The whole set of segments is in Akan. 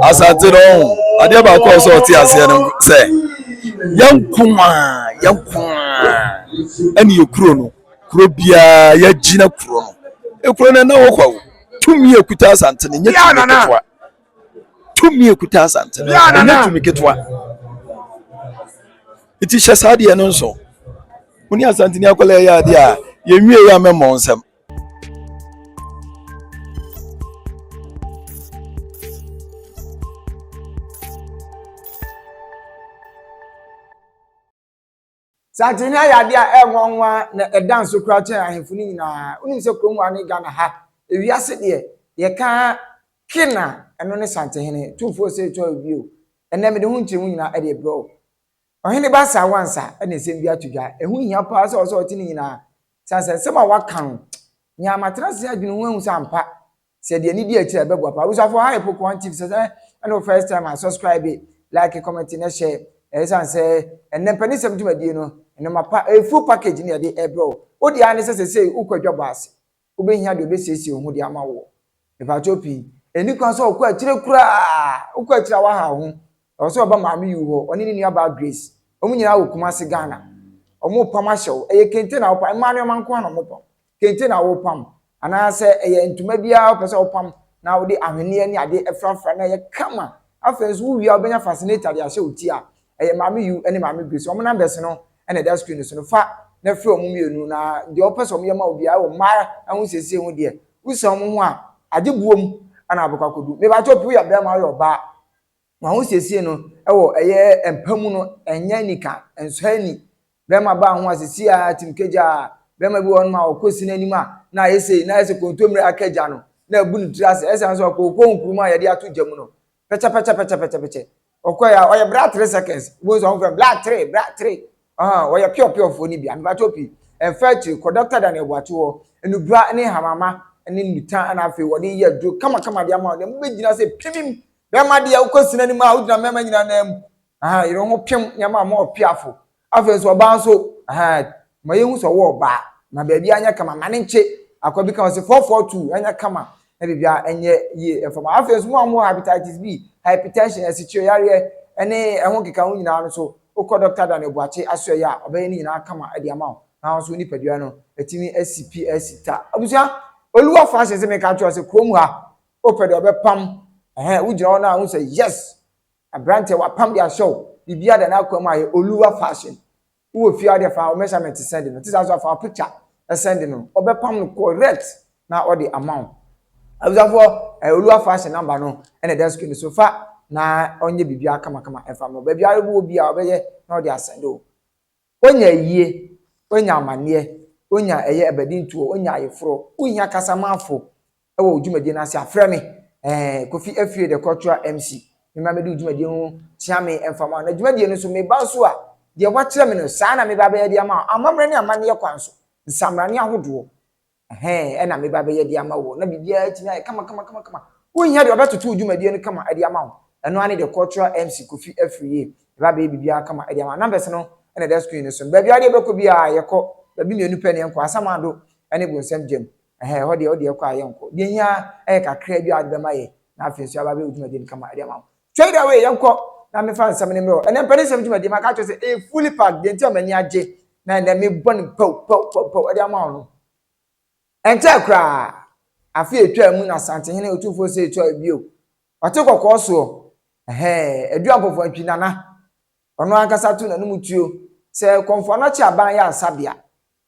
asante no ɔho adeɛ baako a ɔsɛ ɔte aseɛ no sɛ yɛnko a yɛnko a ɛne yɛ kuro no kuro biara yɛagyina kuro no ekuro no ɛna hɔ kwa o tumi ekuta asante no nyɛ tumi ketewa tumi ekuta asante no nyɛ tumi ketewa eti hyɛ saa deɛ no nso mo ne asante ni akɔla ɛyɛ adeɛ a yɛnwie yɛ amɛmɔ nsɛm. Santini ayɛ adeɛ a ɛyɛ nwanwa na ɛda nso koraa kyɛn ahemfo no nyinaa. Wonim sɛ kurom a ne Ghana ha, ewiase deɛ yɛka king a ɛno ne santehene, tumfoɔ sɛ ɛtwa bio. Ɛnɛ mede ho nkyerɛmu nyinaa ɛde brɛ wo. Ɔhene Baasa Wansa na nsɛm bi ato dwa. Ɛho hia paa sɛ ɔsɛ ɔte ne nyinaa sane sɛ nsɛm a waka no nyaa matena ase adwene ho ahu sɛ ampa sɛ deɛ ne di akyiri a ɛbɛboa paa. Abusuafo ha yɛ Pokuan TV sɛ sɛ ɛne wo first time a subscribe, like, comment na share. Ɛyɛ sane sɛ ɛnɛ mpanisɛm dwumadie no nneɛma pa ɛyɛ full package na yɛde ɛbrɛ wo. Wo deɛ ara ne sɛ sɛsei wokɔ adwabɔ ase. Wobɛhia deɛ ɔbɛsiesie wo ho de ama woɔ. Mepakyɛw pii. Ɛnni kwan sɛ ɔkɔ akyire koraa. Wokɔ akyire a woaha wo ho. Ɛwɔ sɛ ɔba Maame Yu hɔ, ɔne ne nuabaa Grace. Wɔn nyinaa wɔ Kumasi, Ghana. Wɔrepam ahyɛ wo. Ɛyɛ kente na wopam. Mmaa nneɛma nko ara na wɔpam. Kente na worepam. Anaasɛ ɛyɛ ntoma bi ara wopɛ sɛ wopam na wode ahweneɛ ne adeɛ afurafura na ɛyɛ kama. Afei nso wowie a wobɛnya fascinator de ahyɛ wo ti a ɛyɛ maame Yu ne maame Grace wɔn numbers no na ɛda screen so no fa na frɛ wɔn mmienu na deɛ wɔpɛ sɛ wɔn yɛ ma wo biara wɔ mmaa ho siesie ho deɛ wosan wɔn ho a agye buo mu ɛna abɛkɔ akɔdu mebakyɛ opi woyɛ bɛrima woyɛ ɔbaa wɔn ho siesie no ɛwɔ ɛyɛ mpa mu no ɛnyɛ anika ɛnsɔ ani bɛrima baa ho a sisi a tim kagya bɛrima bi wɔ hɔ no a ɔkɔ si n'anim a na ayɛ sei na ayɛ sɛ kontommire akagya no na abu ne tiri ase ɛsan so akɔ okɔ nkuruma a yɛde ato gya mu no pɛkyɛpɛkyɛpɛkyɛpɛkyɛ ɔkɔɛ a ɔyɛ bra three seconds wobɛhu sɛ ɔmfrɛ bra three bra three ɔhɔn wɔyɛ piɔpiɔfoɔ no bi amepakyɛ opi ɛmfa akyiri kɔ dɔkta da no ɛboato hɔ anubra ne hamama ne nnuta ɛna afei wɔde yɛ aduro kamakama de ama wɔn ɛmu bɛgyina sɛ pimim bɛrima deɛ wokɔ sini anim a wogyina mmarima nyinaa nan mu aha yere ho pim nneɛma a wɔn ɔpiafo Afei nso ɔbaa nso ahaa ma yɛhu sɛ ɔwɔ ɔbaa na baabi anyɛ kama ma ne nkye akwa bi ka ho sɛ four four two ɛnyɛ kama na biribi ɛnyɛ yie ɛfam a afei nso mo a mo hepatitis B hypertension asikyire yareɛ ɛne ɛho keka ho nyinaa no so wokɔ dɔkta Daniel Boakye aso ɛyɛ a ɔbɛyɛ ne nyinaa kama ɛde ama wo na nso nipadua no ɛtumi asi pi asi ta abusua Oluwa Francis sɛ meka kyerɛ sɛ kurom ha wopɛ deɛ ɔbɛpam ɛhɛn wogyina hɔ no a wohu sɛ yes Aberanteɛ wapam de ahyɛ wo biribiara da n'akoa mu ayɛ Oluwa fashion wowɔ fie a wode fa wo measurement send no ɛte saa nso a fa wo picture send no ɔbɛpam no correct na ɔde ama wo abusuafoɔ ɛɛ Oluwa fashion number no ɛna ɛda screen so fa na ɔnyɛ biribiara kamakama ɛfa ma baabiara wowɔ biara ɔbɛyɛ na ɔde asɛnde wo. Onya ayie, onya amaneɛ, onya ɛyɛ abadintoɔ, onya ayeforɔ, wohia kasamafo wɔ wo dwumadie no ase a, frɛ me, eh, Kofi Afire the cultural MC, mema mɛdi wo dwumadie ho, kyea me mfa ma wo. Na dwumadie no nso, meba nso a, deɛ woakyerɛ me no, saa na meba abɛyɛ de ama wo, amammerɛ ne amanneɛ kwan so, nsammerane ahodoɔ. Ɛhɛɛ, ɛna meba bɛyɛ de ama wo. Na biribiara atumi ayɛ kama kama kama kama. Wonhia deɛ ɔbɛtoto wo dwumadie no kama de ama wo. Ɛno ara ne deɛ Cultural MC Kofi Afriyie bɛba abɛyɛ biribiara kama de ama wo. Numbers no na ɛda screen no so no. Baabiara deɛ wobɛkɔ biara, yɛkɔ. Baabi mmienu pɛ na yɛnkɔ, Asamado ne Bonsam Gyam. Ɛhɛɛ, ɛhɔ deɛ wode yɛkɔ a yɛnkɔ. Deɛ ɛhia ara, ɛyɛ kakraa bi a wode bɛma yɛn, na afei nso yɛaba abɛyɛ wo dwumadie no kama de ama wo. Twɛn dɛ wei, yɛnkɔ na memfa nsɛm no mmerɛ wo. Ɛnnɛ Mpanisɛm Dwumadie, maka akyerɛ wo sɛ ɛyɛ fully packed, deɛ nti a m'ani agye na ɛnnɛ mebɔ no pɛw pɛw pɛw pɛw de ama wo no. Ɛnkyɛɛ koraa, afe a ɛtwaa mu na Asantehene Otumfoɔ Osei Tuah bio, ɔte kɔkɔɔ soɔ, ɛhɛɛ, Adu Ampɔfoɔ Antwi Nana, ɔno ankasa too n'anom tuo sɛ Kɔmfoɔ Anɔkye Aban Yaresabea,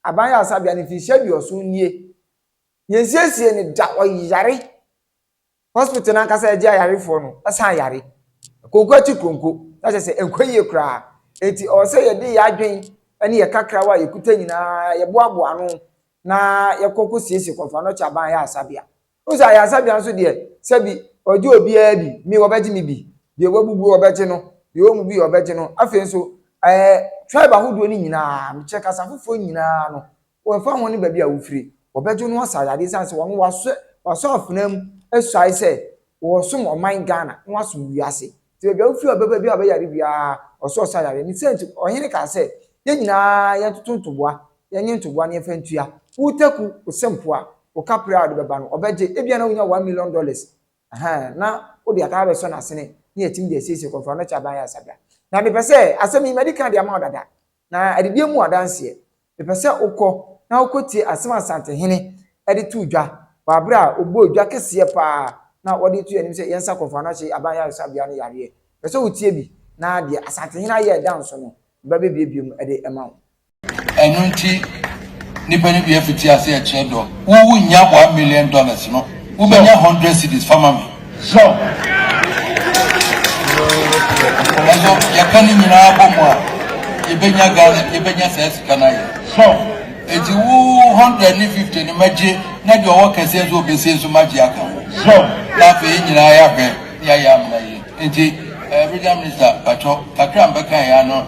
Aban Yaresabea no mfirihyia aduɔson nie, yɛnsiesie no da, ɔyare. Hospital no ankasa agye ayarefoɔ no san yare. Konko akyi konko, na kyerɛ sɛ ɛnkɔ yie koraa. Enti ɛwɔ sɛ yɛde yɛn adwene ne yɛn kakrawa a yɛkuta nyinaa yɛboaboa ano na yɛkɔ kɔsiesie Kɔmfoanɔkye Aban Ayaresabea. Wohu sɛ ayaresabea nso deɛ sɛbi wɔgye obiara bi, me wɔbɛgye me bi, deɛ wabubu wɔbɛgye no, deɛ ɔmmu bi wɔbɛgye no. Afei nso ɛɛ tribe ahodoɔ no nyinaa, mekyerɛ kasa foforɔ nyinaa no, Wɔmfa ho ne baabi a wofiri, wɔbɛgye no asa ayade esiane sɛ wɔn wɔasɔ wɔasɔ afena mu asuae sɛ wɔresom ɔman Ghana na wɔasom wiase. Nti baabi a wofiri a wɔbɛba biara a ɔbɛyare biara wɔsɛ ɔsɔ ayare. Ne saa nti ɔhene kaa sɛ, Yɛn nyinaa yɛntoto ntoboa, yɛnye ntoboa na yɛmfa ntua. Wo Taku, wo Sempo a, wo Kapre a wode bɛba no, ɔbɛgye. Ebia na wunya one million dollars, ɛhɛɛ, na wode ataa abɛsɔ n'asene na yɛatumi de asiesie Kɔmfoano Kyaban Ayaresa bea. Na mepɛ sɛ, asɛm yi, madi kan de ama wo dada, Na adidie mu adanseɛ, mepɛ sɛ wokɔ na wokɔtie asɛm a Asantehene de too dwa wɔ aberɛ a ɔbɔɔ dwa kɛseɛ pa ara na ɔde too yɛn anim sɛ yɛnsa kɔ Mfanoahye Aban Yaresabea no yareɛ. Mepɛ sɛ wotie bi na deɛ Asantehene ayɛ a ɛda nso no, ɔbɛbɛbuebue mu de ama wo. Ɛno nti, nnipa no bi afiti ase rekyerɛ dɔ. Wo wunnya boa million dollars no, wobɛnya hundred cedis fa ma me. So nanso yɛka ne nyinaa bɔ mu a yɛbɛnya Ghana yɛbɛnya saa sika no ayɛ so eti wo hundred ne fifty ne magye na deɛ ɔwɔ kɛseɛ nso ɔbɛsie nso magye aka ho so na afei yɛ nyinaa yɛahwɛ ne ayɛ amena yie nti ɛɛ regional minister patwɔ kakra mbɛka yɛ ano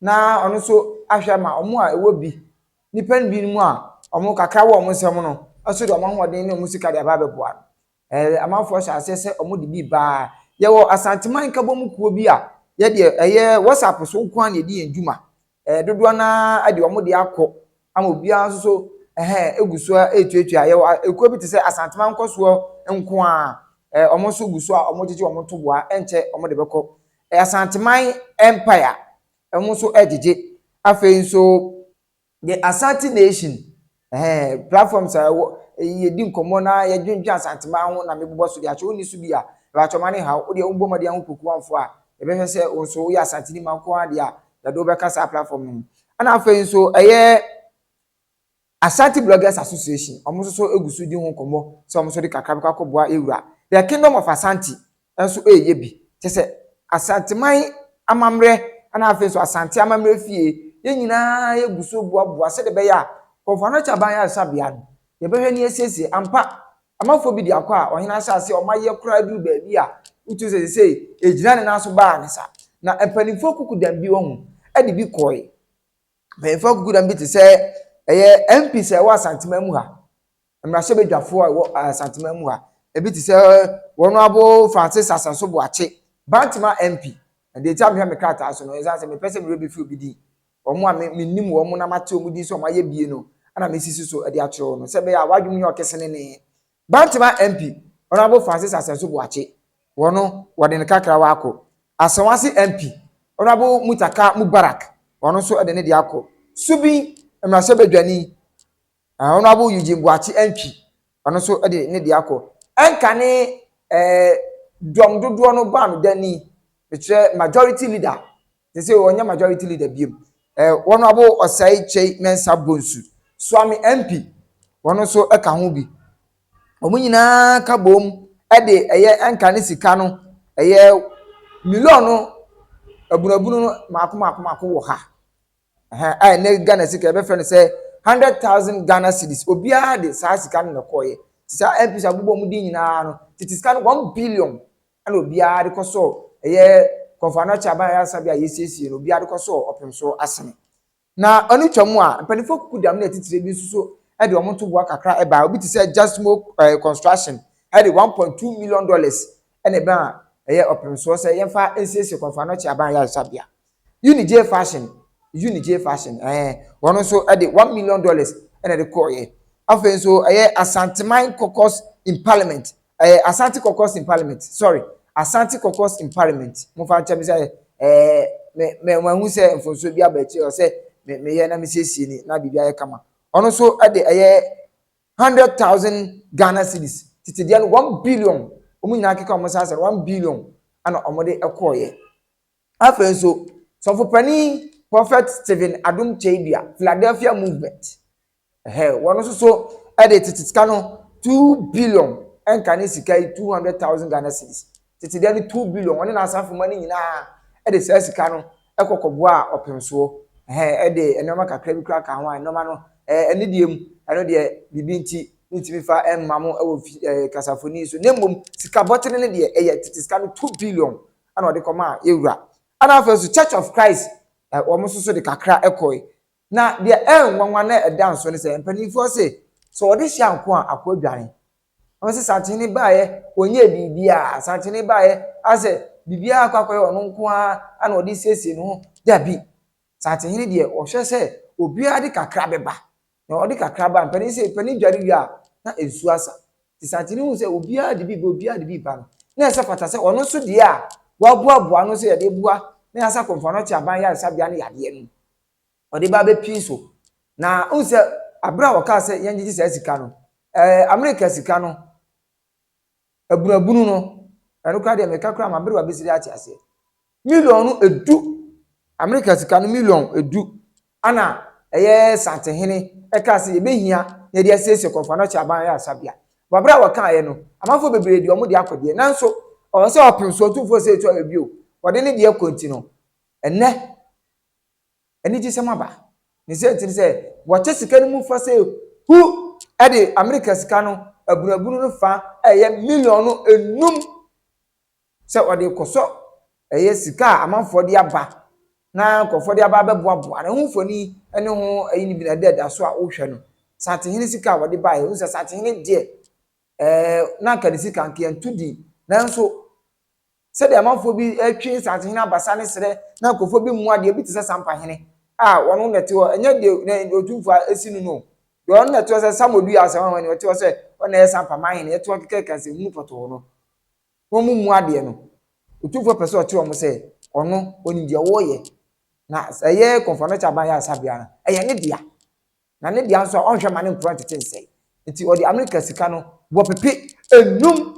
na ɔno nso ahwɛ ama wɔn a ɛwɔ bi, nnipa no bi no mu a wɔn kakra wɔ wɔn nsam no nso de wɔn ahoɔden ne wɔn sika de aba abɛboa no. Ɛɛ amanfoɔ hyɛ aseɛ sɛ wɔde bi baa. Yɛwɔ Asanteman Nkabom kuo bi a yɛdeɛ ɛyɛ WhatsApp so nko ara na yɛdi yɛn dwuma. Ɛɛ dodoɔ no ara de wɔn deɛ akɔ ama obiara nso so ɛhɛn gu so retuatua. Yɛwɔ ekuo bi te sɛ Asanteman Nkɔsoɔ nko ara, ɛɛ wɔn nso gu so a wɔgyegye wɔn ntoboa, ɛnkyɛ wɔde bɛkɔ. Asanteman Empire ɛho nso ɛgyegye. Afei nso The Asante Nation ɛhɛn platforms a ɛwɔ yɛdi nkɔmmɔ na yɛdwendwen Asanteman ho na mebobɔ so de akyɛ. Wonni so bi a, mepakyɛ ma ne haw. Wodeɛ wobɔ mmɔden a ho pokuamfoɔ a, yɛbɛhwɛ sɛ wo nso woyɛ Asanteni ma nko ara deɛ a, yɛde wo bɛka saa platform no ho. Ɛna afei nso ɛyɛ Ashanti Bloggers Association, wɔn nso so gu so di ho nkɔmmɔ sɛ wɔn nso de kakra bɛkɔ akɔboa Ewura. The Kingdom of Asante nso reyɛ bi, kyerɛ sɛ, Asanteman amammerɛ na afei nso Asante Amammerɛ Fie, yɛn nyinaa gu so boaboa sɛdeɛ ɛbɛyɛ a Kɔmfoano Kyaba Ayaresabea no, yɛbɛhwɛ na yɛasiesie. Ampa, amanfoɔ bi de akɔ a ɔhene ahyɛ aseɛ, wɔayɛ koraa duru baabi a wotumi sɛ seesei ɛgyina ne nan so baa ne sa. Na mpanimfoɔ kuku dan bi, wahu, de bi kɔeɛ. Mpanyimfo akukudam bi te sɛ ɛyɛ MPs a ɛwɔ Asanteman mu ha, mmarahyɛbadwafoɔ a ɛwɔ Asanteman mu ha. Ebi te sɛ wɔn abo Francis Asanso Boakye, Bantama MP. Na deɛ nti a mehwɛ me krataa so no, ɛsiane sɛ mepɛ sɛ me werɛ bɛfiri obi din. Wɔn a me menim wɔn na mate wɔn din sɛ wɔayɛ bie no na mesisi so de akyerɛ wɔn no sɛ ɛbɛyɛ a wɔadwene nyɛ ɔkesenenee Bantama MP Honourable Francis Asɛnso Boakye wɔ no wɔde ne kakra wa akɔ. Asawase MP Honourable Mutaka Mubarak wɔ no nso de ne deɛ akɔ. Subin Mmarahyɛbadwani Honourable Eugene Boakye Antwi wɔ no nso de ne deɛ akɔ. Ɛnkane eh, dɔm dodoɔ no baa me dani, mekyerɛ majority leader sese ɔnyɛ majority leader biom eh, wɔn abo ɔsɛe kyei mɛnsa bonsu suame mp wɔn nso ɛka ho bi wɔn nyinaa ka bom ɛde ɛyɛ ɛnka ne sika no ɛyɛ million no abunabunu no mako mako mako wɔ ha ɛhɛn a ɛnɛ ghana sika ɛbɛfrɛ no sɛ hundred thousand ghana cedis obiara de saa sika no na ɛkɔɔyɛ te saa mp sɛ abobɔ wɔn din nyinaa no tete sika no one billion ɛna obiara de kɔ sɔɔ ɛyɛ kɔnfano akyɛ aban ɛyɛ asa bi a yɛsiesie no obiara de kɔ sɔɔ ɔpem so asene na ɔno twa mu a mpanimfoɔ kuku dam ne atitire bi nso so ɛde wɔn ntoboa kakra ɛbaa obi te sɛ just mo ɛɛ construction ɛde one point two million dollars ɛna ɛbaa ɛyɛ ɔpem soɔ sɛ yɛmfa nsiesie kɔnfano akyɛ aban ɛyɛ asa bia Unijay fashion Unijay fashion ɛɛ wɔn nso de one million dollars ɛna ɛde kɔɔyɛ afei nso ɛyɛ Asanteman caucus in parliament ɛɛ Asante caucus in parliament sorry Asante caucus in parliament mo fa nkyɛn mi sɛ ɛɛ mɛ mɛ wɔn ahu sɛ mfonso bi aba akyire ɔsɛ mɛ mɛ yɛ na mi siesie ni na biribi ayɛ kama ɔno nso de ɛyɛ hundred thousand Ghana cedis tete deɛ no one billion wɔn nyinaa keka wɔn nsa asɛ one billion ɛna wɔn de kɔɔyɛ. Afei nso, Sɔfo Panin Prophet Stephen Adom Kyei-Duah, Philadelphia Movement, ɛhɛɛ, wɔn nso so de tete sika no two billion, ɛnka ne sika yi two hundred thousand Ghana cedis, tete deɛ no two billion, wɔne n'asafomma no nyinaa de saa sika no kɔ kɔboaa ɔpemsoɔ, ɛhɛɛ, ɛde nneɛma kakra bi koraa kaa ho a nneɛma no ɛɛ, ne deɛ mu, ɛno deɛ biribi nti mentumi fa mma mo wɔ fi ɛɛ kasafoni yi so, na mmom sika bɔtene no deɛ ɛyɛ tete sika no two billion ɛna ɔde kɔmaa yɛn wura ɛna afei nso church of christ ɛ wɔn nso so de kakra ɛkɔe na deɛ ɛyɛ nwanwa na ɛda nso ne sɛ mpanimfoɔ se sɛ ɔde hyɛ anko a akɔ adwane wɔn sɛ santene baayɛ ɔnyɛ biribiara santene baayɛ asɛ biribiara akɔ akɔyɛ ɔno nko ara ɛna ɔde siesie ne ho dabi santene deɛ ɔhwɛ sɛ obiara de kakra bɛba na ɔde kakra baa mpanin sɛ panin dware wie a na nsuo asa. Nti Santini huu sɛ obiara de bi ba obiara de bi ba no, na ɛsɛ fata sɛ ɔno nso deɛ a wɔaboaboa ano sɛ yɛde boa na yɛasa Komfo-Anokye Aban Yaresabea no yadeɛ no, ɔde ba bɛpii so. Na wohu sɛ berɛ a wɔkaa sɛ yɛngyegye saa sika no, ɛɛ Amerika sika no, Abunabunu no, ɛno koraa deɛ meka koraa m'aberewa bɛsiri ate aseɛ. Million no ɛdu, Amerika sika no million ɛdu, ana ɛyɛ Santehene ɛkaa sɛ yɛbɛhia na yɛde asiesie Kɔmfoanokyɛ Aban Ayaresabea. Wɔaberɛ a wɔkaeɛ no, amanfoɔ bebree de wɔn deɛ akɔ deɛ, nanso ɛwɔ sɛ wɔpem so, ɔtumfoɔ sɛ ɛtu ayɛ bio, wɔde ne deɛ kɔ nti no, ɛnnɛ, anigyesɛm aba. Ne sɛ nti ne sɛ wɔkyɛ sika no mu fa sɛ hu de Amerika sika no abunabunu no fa a ɛyɛ miliɔno enum sɛ wɔde rekɔsɔ ɛyɛ sika a amanfoɔ de aba na nkurɔfoɔ de aba abɛboaboa no. Ɛho mfoni ne ho ayi no bi na ɛda ɛda so a wohwɛ no. Santehene sika a wɔde baeɛ, wohu sɛ Santehene deɛ, ɛɛ, na anka ne sika anka yɛnto din. Nanso, Sɛdeɛ amanfoɔ bi retwe nsansehene abasa ne serɛ na nkurɔfoɔ bi mmoa deɛ, ebi te sɛ sampahene a ɔno na ɛte hɔ, ɛnyɛ deɛ na deɛ otumfoɔ a asi no no o. Deɛ ɔno na ɛte hɔ sɛ Samuel dui ase hwanwa ni, ɔte hɔ sɛ ɔno na ɛyɛ sampama hene, ɛte hɔ kɛkɛɛkɛ sɛ hunu pɔtɔɔ no. Wɔmmua adeɛ no. Otumfoɔ pɛ sɛ ɔkyerɛ wɔn sɛ ɔno, ɔnim deɛ wɔreyɛ. Na sɛ ɛyɛ Kɔmfoano Kyɛ Aban Yare Sabea no, ɛyɛ ne dea. na ne dea nso a ɔnhwɛ mma ne mporɔn ntete nsɛe. Enti ɔde Amerika sika no bɔ pepe nnum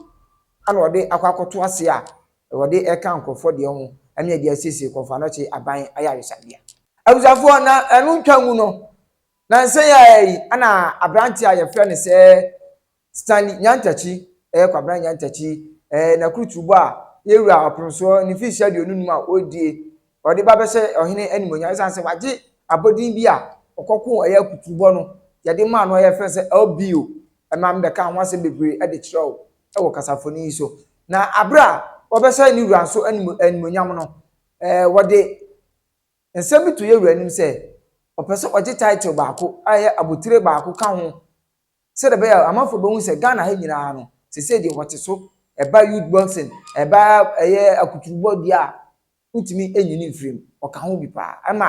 na ɔde akɔ akɔto ase a wɔde reka nkurɔfoɔ deɛ ho ne ɛde asiesie Kɔmfo Anokye Aban Ayaresabea. Abusuafoɔ, na ɛno ntwa ngu no, nansa yi ara yi na aberanteɛ a wɔfrɛ no sɛ Stanley Nyantakyi, ɛyɛ Kwabena Nyantakyi, ɛɛ, n'akuruturubɔ a Yewura Ɔpemsoɔ ne mfirihyia aduonu num a ɔredie, ɔde ba bɛhyɛ ɔhene animuonyam ɛsiane sɛ wagye abɔdin bi a ɔkɔkoo ɛyɛ akuturubɔ no yɛde maa no a yɛfrɛ no sɛ LBO. Ɛma mebɛkaa ho asɛm bebree de kyerɛ wo wɔ kasafoni yi so. Na abere a wɔbɛhyɛ ne wura nso anim, animuonyam no, ɛɛ, wɔde nsɛm bi to Yewura anim sɛ ɔpɛ sɛ ɔgye title baako a ɛyɛ abotire baako ka ho sɛdeɛ ɛbɛyɛ a amanfoɔ bɛhu sɛ Ghana ha nyinaa no, seesei deɛ wɔte so, ɛba youth boxing, ɛba ɛyɛ akuturubɔ deɛ a, wotumi nyini mfiri mu, ɔka ho bi paa. Ɛma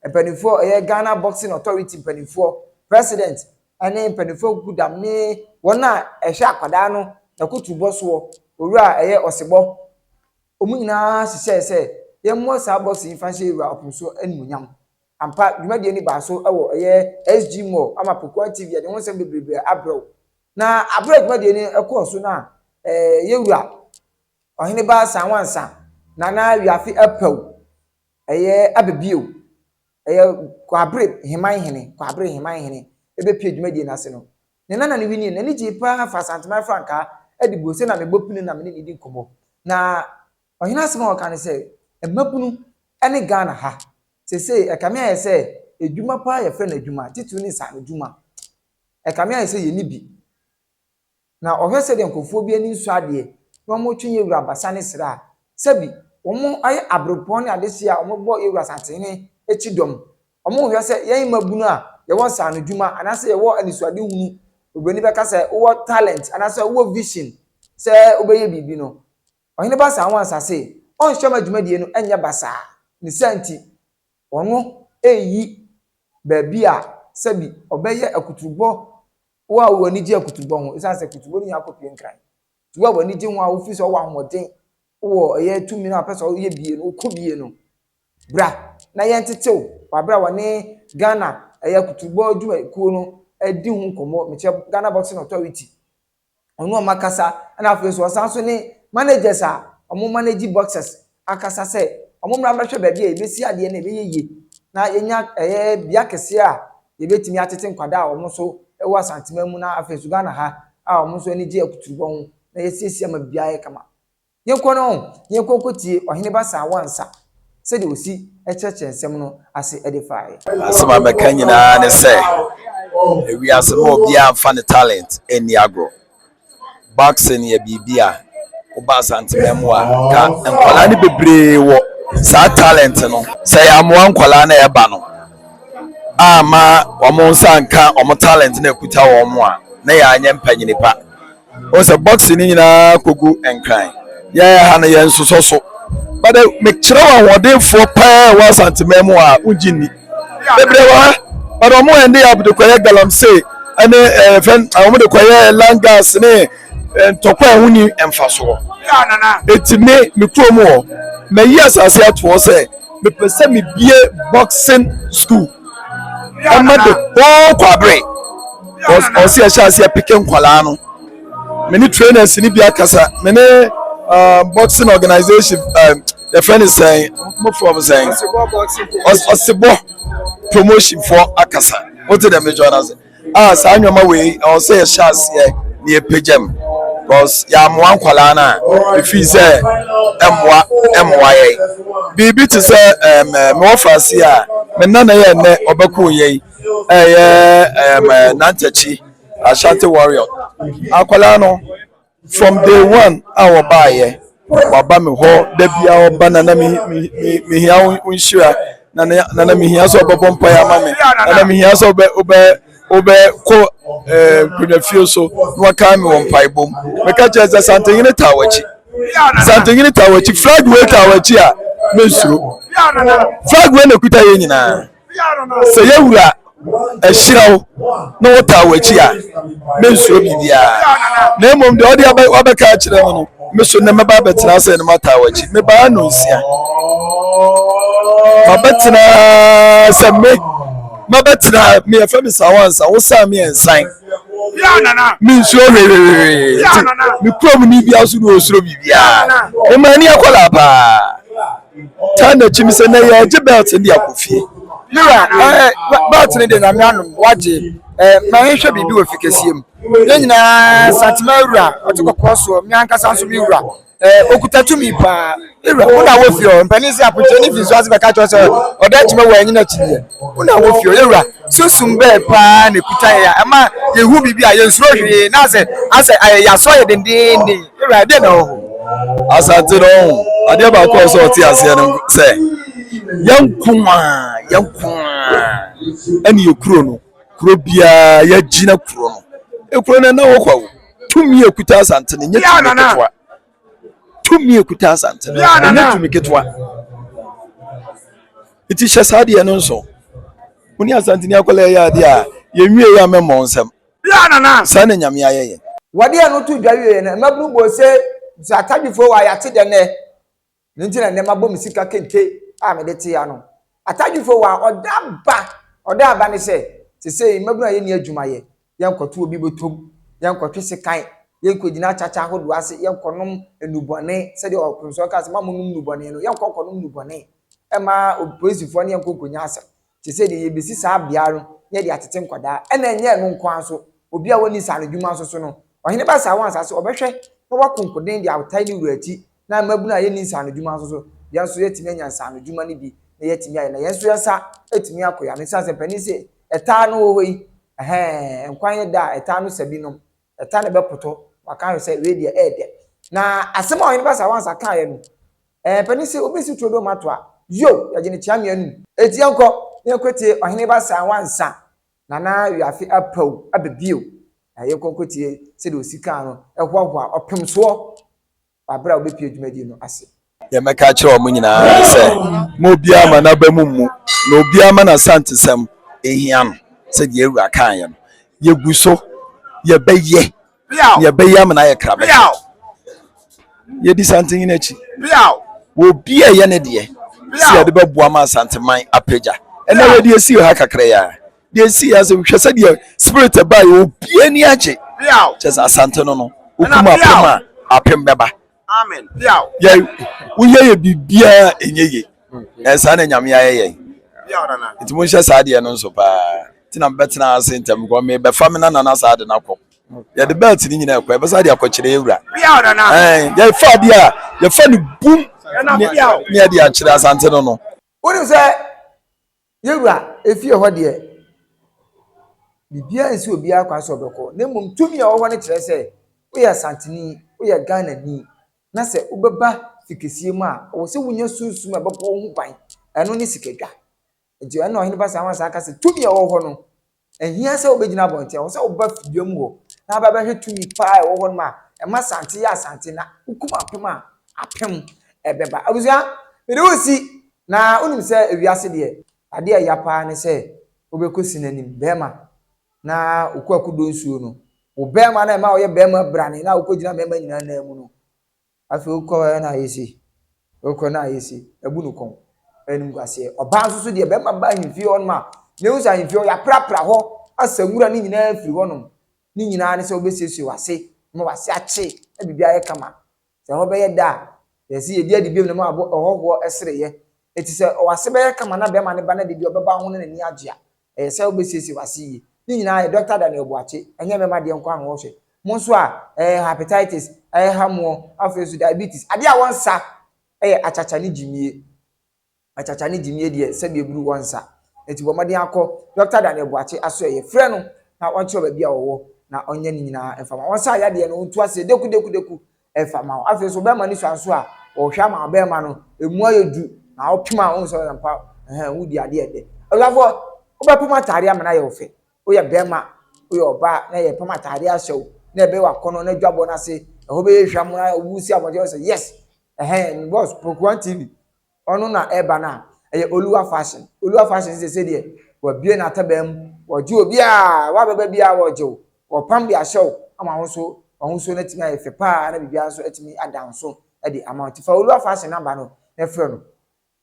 mpanimfoɔ, ɛyɛ Ghana Boxing Authority mpanimfoɔ, president ne mpanimfoɔ nkuku dam ne wɔn a ɛhwɛ akwadaa no akuturubɔ soɔ, owura a ɛyɛ Ɔsebɔ, wɔn nyinaa hyehyɛɛ sɛ yɛmmɔ saa boxing yi mfa nhyɛ Owura Ɔpomso animuonyam. Ampa, dwumadie no baa so wɔ ɛyɛ SG Mall ama Pokuaa TV yɛde ho nsɛm bebrebe abrɛ wo. Na aberɛ a dwumadie no ɛkɔɔ so no a Yɛwura Ɔhene Ba Sanwansa Nana Wiafe Apawu ɛyɛ aba bio ɛyɛ Kwabere Heman Hene Kwabere Heman Hene ɛbɛpue dwumadie no ase no ne nana no winie no n'ani gyee paa fa Asanteman frankaa ɛde buo sɛ na mebɔ pini na mene no di nkɔmmɔ na Ɔhene asɛm a ɔka ne sɛ, Mmabunu ne Ghana ha, seesei ɛkame ayɛ sɛ adwuma paa yɛfrɛ no adwuma, titiriw ne nsaanodwuma. Ɛkame ayɛ sɛ yenni bi. Na ɔhwɛ sɛdeɛ nkurɔfoɔ bi ani nsɔ adeɛ na wɔretwe yɛn wura abasa ne srɛ a, sɛbi wɔayɛ aberempɔn ne adehyeɛ a wɔbɔ yɛn wura Asantehene akyi dɔm. Wɔhwɛ sɛ yɛn mmabunu a yɛwɔ nsaanodwuma anaasɛ yɛwɔ anisoadehunu, oburoni bɛka sɛ wowɔ talent anaasɛ wowɔ vision sɛ wobɛyɛ biribi no, Ɔhene Baasa anwansa se ɔnhwɛ ma dwumadie no nyɛ basaa, ne saa nti, ɔno reyi baabi a sɛbi ɔbɛyɛ akuturubɔ wo a w'ani gye akuturubɔ ho, esiane sɛ akuturubɔ no nyinaa kɔpue nkran. Nti wo a w'ani gye ho a wofiri sɛ wowɔ ahoɔden, wowɔ ɛyɛ tumi no a wopɛ sɛ woyɛ bie no, wokɔ bie no, bra na yɛntete wo wɔ abere a wɔne Ghana ɛyɛ akuturubɔ dwumakuo no redi ho nkɔmmɔ, mekyerɛ Ghana Boxing Authority ɔne wɔn akasa na afei nso ɔsan nso ne managers a wɔn manage boxers akasa sɛ wɔn mmra mmɛhwɛ baabi a yɛbɛsi adeɛ na ɛbɛyɛ yie na yɛnya ɛyɛ bea kɛseɛ a yɛbɛtumi atete nkwadaa a wɔn nso ɛwɔ asanteman mu na afei nso Ghana ha a wɔn nso anigye akuturubɔ ho na yɛsiesie ama biribiara ayɛ kama. Yɛnkɔ no ɔn, yɛnkɔ nkɔtie Ɔhene Basaa Wansa sɛdeɛ ɔsi kyerɛkyerɛ nsɛm no ase de faeɛ. Asɛm a mɛka nyinaa ne sɛ, wiase no obiara mfa ne talent nni agorɔ. Boxing yɛ biribi a woba Asanteman mu a ka nkwadaa no bebree wɔ saa talent no. Sɛ yɛammoa nkwadaa no a ɛba no amma wɔn nsa anka wɔn talent no a ɛkuta wɔn a na yɛanyɛ mpanyini pa. wɔn sɛ boxing ne nyinaa kogu nkran yɛn ha no yɛn nsosɔ so bɛdɛ mekyerɛ wɔn ahoɔdenfoɔ paa wɔ asanteman mu a wogye nni bebree wɔ ha bɛdɛ wɔn ɛnde abde kɔyɛ galamsey ɛne ɛɛ fɛn wɔn de kɔyɛ langas ne ntɔkwa a ɛho ni mfasoɔ eti me me kurom hɔ mɛyi asase atoɔ sɛ mepɛ sɛ mebie boxing school. ɛma de whole kwabere ɔsi ɛhyɛ ase apike nkwadaa no me ne trainers ni bi akasa me ne uh, boxing organization uh, the friend is saying mo from saying ɔsebɔ promotion for akasa o ti dɛ mi jɔ na se. a saa nneɛma wei ɛwɔ sɛ yɛhyɛ aseɛ na yɛpagya mu because yɛamoa nkwadaa no a ɛfiri sɛ ɛmmoa ɛmmoa yɛn biribi te sɛ ɛm mewɔ faase a me nana yɛ nnɛ ɔbɛko yɛn ɛyɛ ɛm nantakyi ashanti warrior akwadaa no. From day one a wɔbaeɛ wɔaba me hɔ da biara wɔba na na mehia wo nhyira na na mehia sɛ wɔbɛbɔ mpaeɛ ama me na na mehia sɛ wobɛ wobɛ wobɛkɔ eh, nkonnwafie so na wɔkae me wɔ mpaebɔ mu meka kyerɛ sɛ santenyene taa w'akyi santenyene taa w'akyi flag wei taa w'akyi a mensuro flag wei na ɛkuta yɛ nyinaa Sɛ yawura ahyira wo na wotaa w'akyi a, mensuro biribiara. Na mmom deɛ ɔde wabɛka akyerɛ no no, me so nnɛ mɛba abɛtena ase na mataa w'akyi. Mebaa no nsia. Mabɛtena sɛ me mabɛtena me yɛfɛ me sa wansa wo sa me nsan. Mensuro hwehwehwee nti me kurom ni biara so na ɔsuro biribiara. Ɛma ani akɔla paa. taa n'akyi no sɛ na yɛagye belt no de akɔ fie ne wura ɛɛ belt no de na me anom wagye ɛɛ ma yɛnhwɛ biribi wɔ fi kɛseɛ mu ne nyinaa santema wura ɔte kɔkɔɔ soɔ me ankasa nso me wura ɛɛ okuta tumi paa me wura wo na wɔ fie hɔ mpanin sɛ apokyɛ ne fi nso ase bɛka kyerɛ sɛ ɔda akyima wɔ anyi n'akyi deɛ wo na wɔ fie hɔ yɛwura sunsum bɛɛ paa na ekuta yɛ ɛma yɛhu biribi a yɛnsuro hwee na asɛ asɛ ayɛ yɛasɔ yɛ dendeenden Ewura dɛ na ɔwɔ hɔ. Asante no ɔho adeɛ baako a ɔsɛ ɔte aseɛ no sɛ yɛnko a yɛnko a ɛne yɛ kuro no kuro biara yɛagyina kuro no ekuro no ɛna hɔ kwa o tumi ekuta asante no nyɛ tumi ketewa tumi ekuta asante no nyɛ tumi ketewa eti hyɛ saa deɛ no nso mo ne asante ni akɔla yɛ adeɛ a yɛnwie yɛ amɛmɔ nsɛm. Saa na Nyame ayɛ yɛn. Wɔde ɛno too dwa wieeɛ no, mmabunu bɔɔ se, Nso Atadwefoɔ wɔ ayate dɛ nnɛ? Ɛno nti na nnɛ mabɔ me sika kente a mede tee ano. Atadwefoɔ wɔ a ɔda aba, ɔda aba ne sɛ, Sesei mmabunu a yɛnni adwuma yɛ, yɛnkɔto obi bɔtɔm, yɛnkɔtwe sekan, yɛnkɔgyina akyakya ahodoɔ ase, yɛnkɔnom nnubɔne, sɛdeɛ ɔkromsɔɔ kaa sɛ, Moa monnom nnubɔne no, yɛnkɔ nkɔnom nnubɔne mma opolisifoɔ ne yɛnkɔ nkɔnya asɛm. Te sɛ deɛ yɛbɛsi saa beaeɛ no na yɛde atete nkwadaa, ɛna ɛnyɛ ɛno nko ara nso, obi a ɔnni nsaano adwuma nso so no, ɔhene ba saa wɔn asase, ɔbɛhwɛ na wako nkoden de awotae ne wura ti, na mmabunu a yɛnni nsaano adwuma nso so, yɛn nso yɛatumi anya nsaano adwuma no bi na yɛatumi ayɛ, na yɛn nso yɛn nsa atumi ako yɛn ano, ɛsiane sɛ mpanin se ɛtaa no wɔ hɔ yi, ɛhɛɛ, nkwa nyɛ da a ɛtaa no sa binom. Ɛta no bɛpoto, waka ahwɛ sɛ wei deɛ ɛyɛ dɛ. Na asɛm a Ɔhene Baasa Wansa kaeɛ no, ɛɛpɛ ne sɛ obi si turodoo ma to a, yo! yɛgye no kyea mmienu. Enti yɛnkɔ na yɛnkɔtie Ɔhene Baasa Wansa, na na wiase apaw aba bio. Na yɛnkɔ nkɔtie sɛdeɛ ɔsi kaa no hoahoa ɔpemsoɔ wɔ bere a wobepue dwumadi no ase. Nea mɛka akyerɛ wɔn nyinaa ne sɛ, Momma obiara mma n'abam mmu, na obiara mma n'asantesɛm nhia no. Sɛnea yɛn Wura kaeɛ no, yɛgu so, yɛbɛyɛ, na yɛbɛyɛ ama no ayɛ krabɛn. Yɛdi Santennyina akyi wɔ obi a ɛyɛ ne deɛ sɛ yɛde bɛboa ma Asanteman apagya. Ɛnnɛ, yɛde asii ha kakra yi ara. deɛ ɛsi yɛ sɛ hwɛ sɛ deɛ spirit ɛbaa yɛ obie ni agye kyɛ sɛ asante no no wokum apem a apem bɛba yɛ woyɛ yɛ biribiaa ɛnyɛ ye ɛyɛ saa na nyame ayɛ yɛn nti monhyɛ saa deɛ no nso paa nti na mebɛtena ase ntɛm kɔ mebɛfa me nanana saa de no akɔ yɛde bɛlt no nyina ɛkɔ ɛbɛsa de akɔkyerɛ yɛwura yɛfa bi a yɛfa no bum ne ɛde akyerɛ asante no no wonim sɛ Yɛn Wura, efie hɔ deɛ, biribiara nsi obiara kwan sɛ ɔbɛkɔ, na mmom tumi a ɛwɔ hɔ no kyerɛ sɛ woyɛ Asanteni, woyɛ Ghanani, na sɛ wobɛba Fikasiem a, ɛwɔ sɛ wonya sunsum a ɛbɛbɔ wo ho ban, ɛno ne sikadwa. Nti ɛnna Ɔhene Basaa Wasaa ka sɛ tumi a ɛwɔ hɔ no, Ɛnhia sɛ wobɛgyina abɔnten, ɛwɔ sɛ woba fidua mu hɔ na aba bɛhwɛ tumi paa ɛwɔ hɔ nom a ɛma asante yɛ asante na wokum apem a apem ɛbɛba. Abusua, mede wo si na wonim sɛ ewiase deɛ adeɛ a ɛya paa ne sɛ wobɛkɔ sini anim bɛɛma na wokɔ akudɔ nsuo no, wo bɛɛma no a ɛma woyɛ bɛɛma brane no a wokɔgyina mɛɛma nyinaa nan mu no, Afei wokɔ ɛ na ayɛ sei, wokɔ na ayɛ sei, abu no kɔn, animguaseɛ. Ɔbaa nso so deɛ, bɛrima ba ahemfie hɔnom a, na ɛhu sɛ ahemfie hɔ yɛaprapra hɔ asa nwura ne nyinaa afiri hɔnom, ne nyinaa ne sɛ wobɛsiesie w'ase ma w'ase akye na biribi ayɛ kama. Sɛ ɛhɔ bɛyɛ dɛ a, yɛ se yɛdi adi biom na ma w'abɔ ɛhɔhoɔ sereɛ. Enti sɛ w'ase bɛyɛ kama na bɛrima no ba na dede ɔbɛba wo ho na n'ani agye a, Ɛyɛ sɛ wobɛsiesie w'ase yie. Ne nyinaa yɛ Dɔkta Daniel Boakye, ɛnyɛ mɛma deɛ nko a na wɔhwɛ. Mo nso a, ɛɛ, hepatitis ɛreha moɔ, afei nso diabetes, adeɛ a wɔnsa yɛ akyakya ne gyimie. Akyakya ne gyimie deɛ, sɛdeɛ ɛburu wɔnsa. Enti bɔ mmɔden akɔ Dɔkta Daniel Boakye asoɛeɛ. Frɛ no na ɔnkyerɛ wo baabi a ɔwɔ na ɔnyɛ ne nyinaa mfa ma wo. Wɔnsa yadeɛ no, ɔntu aseɛ, deku deku deku, ɛfa ma wo. Afei nso ɔbarima no sua nso a, ɔhwɛ ama ɔbarima no, emu ayɛ du na ɔpem a ɔhu sɛ ɔyɛ mpa ɛhɛn wodi adeɛ ɛdɛ. Abusuafoɔ wobɛpem ataadeɛ ama no ayɛ wo fɛ. Woyɛ barima, woyɛ ɔbaa na yɛpem ataadeɛ ahyɛ wo na ɛbɛyɛ w'akɔnnɔ na adwabɔ no ase ɛhɔ bɛyɛ hwam na wosi abɔnten hɔ sɛ yes ɛhɛn me boss Pokuaa TV Ɔno na ɛba no a ɛyɛ Oluwa fashion. Oluwa fashion ne sese deɛ wɔabue n'ataban mu, wɔgye obiara, w'abɛba biara wɔgye wo, wɔpam de ahyɛ wo ama wo nso w'ahosuo no atumi ayɛ fɛ paa na biribiara nso atumi ada nso de ama wo. Nti fa Oluwa fashion no aba no na ɛfrɛ no.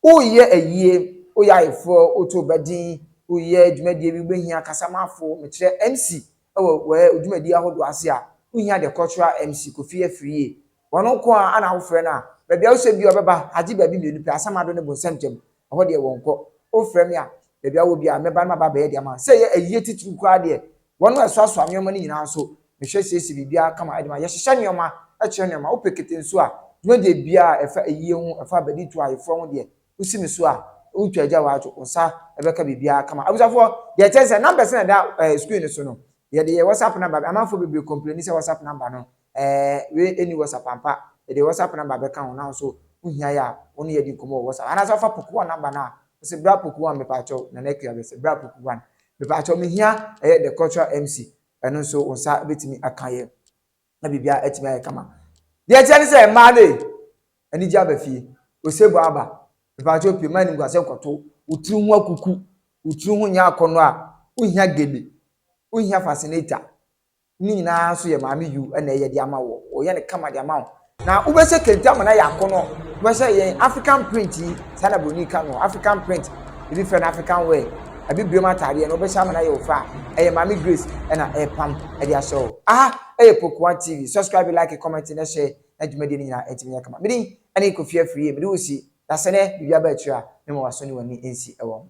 Woyɛ ayie, woyɛ ayeforɔ, woto wo ba din, woyɛ dwumadie bi, wobɛhia kasamafo, mekyerɛ MC wɔ w'ɛ dwumadie ahodoɔ ase a, wohia the cultural MC, Kofi Afriyie, Wɔno nko ara na wofrɛ no a, baabi a wosɛ biara ɔbɛba, agye baabi mmienu pɛ, asamado ne bonsam ntam, ɛhɔ deɛ wɔnkɔ. Wofrɛ me a, baabi a wowɔ biara, mɛba na maba abɛyɛ de ama wo. Sɛ ɛyɛ ayie titiriw koraa deɛ, wɔno a ɛsoasoa nneɛma no nyinaa nso, mehwɛ siesie biribiara kama de ma. Yɛhyehyɛ nneɛma, kyerɛ nneɛma. Wopɛ kete nso a, dwumadie biara a ɛfa ayie ho, ɛfa abaditu, ayeforɔ ho deɛ, wosi me so a, wontwa agya woadwo, wo nsa bɛka biribiara kama. Abusuafoɔ, deɛ ɛkyɛn sɛ, numbers na ɛda screen no so no, yɛde yɛ WhatsApp number, amanfoɔ bebree complaini sɛ WhatsApp number no Ɛɛ, wei nni WhatsApp ampa? Mede WhatsApp number bɛka ho na wo nso wohia yɛ a, wo ne yɛ di nkɔmmɔ wɔ WhatsApp. Anaasɛ fa Poku One number no a, wo se bra Poku One mepaakyɛw, Nana Akua bɛse bra Poku One mepaakyɛw mehia ɛyɛ The Cultural MC, ɛno nso wo nsa bɛtumi aka yɛ na biribiara atumi ayɛ kama. Deɛ ɛteɛ ne sɛ mmaa no ee, anigye aba fie, osebɔ aba, mepaakyɛw pue, mma animguasɛ nkɔto wo tiri ho akuku, wo tiri ho nyɛ akɔnnɔ a, wohia gele, wohia fascinator, Ne nyinaa nso yɛ maame yu na ɛyɛ de ama wo. Wɔyɛ no kama de ama wo. Na wobɛhyɛ kente ama no ayɛ akɔnɔ. Wobɛhyɛ yɛn African print yi, saa na buroni ka no, African print. Ebi frɛ no African wear. Abibirem ataadeɛ no wobɛhyɛ ama no ayɛ wo fɛ a, ɛyɛ maame Grace na ɛrepam de ahyɛ wo. Aha ɛyɛ Pokuwa TV. Subscribe, like, comment na share na dwumadie no nyinaa ɛtumi nyɛ kama. Me din ɛne Kofi Afriyie. Mede wo si. Dasɛ nɛ biribi aba akyire a, mema w'aso ne w'ani nsi wɔ ho.